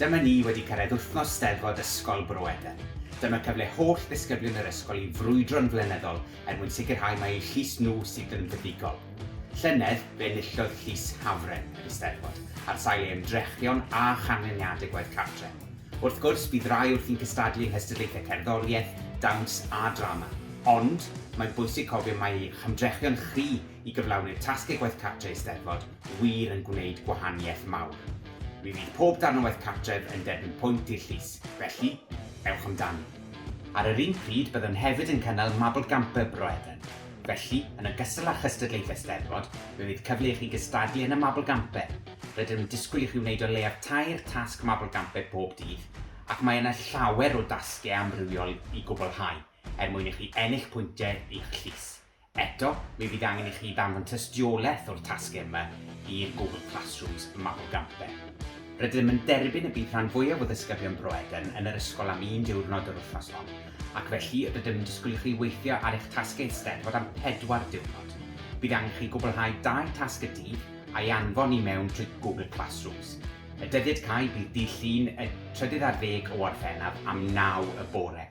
Dyma ni wedi cyrraedd wythnos Steddfod Ysgol Bro Edern. Dyma cyfle holl ddisgyblion yr ysgol i frwydro'n flynyddol er mwyn sicrhau mai eu llys nhw sydd yn fuddugol. Llynedd, fe enillodd Llys Hafren yr Eisteddfod, ar sail ei ymdrechion a chanlyniadau gwaith cartre. Wrth gwrs, bydd rai wrthi'n cystadlu yng nghystadlaethau cerddoriaeth, dawns a drama. Ond, mae'n bwysig cofio mai eich ymdrechion chi i gyflawni'r tasgau gwaith cartre Eisteddfod, wir yn gwneud gwahaniaeth mawr. Mi fydd pob darn o waith cartref yn derbyn pwynt i'r llys, felly, ewch amdani. Ar yr un pryd, byddwn hefyd yn cynnal Mabl Gamper Bro Edern, felly, yn ogystal â chystadlaethau Steddfod, mi fydd cyfle i chi gystadlu yn y Mabl Gamper. Rydym yn disgwyl i chi wneud o leiaf tair tasg Mabl Gamper pob dydd, ac mae yna llawer o dasgiau amrywiol i gwblhau er mwyn i chi ennill pwyntiau i'ch llys. Eto, mi fydd angen i chi ddanfon tystiolaeth o'r tasgau yma i'r Google Classrooms Mabel Gampe. Rydym yn derbyn y bydd rhan fwyaf o ddysgybion Bro Eden yn yr ysgol am un diwrnod yr wythnos hon, ac felly rydym yn disgwyl i chi weithio ar eich tasgau Eisteddfod am pedwar diwrnod. Bydd angen i chi gwblhau dau tasg y dydd a'i anfon i mewn trwy Google Classrooms. Y dyddiad cau bydd dydd Llun y trydydd ar ddeg o Orffennaf am naw y bore.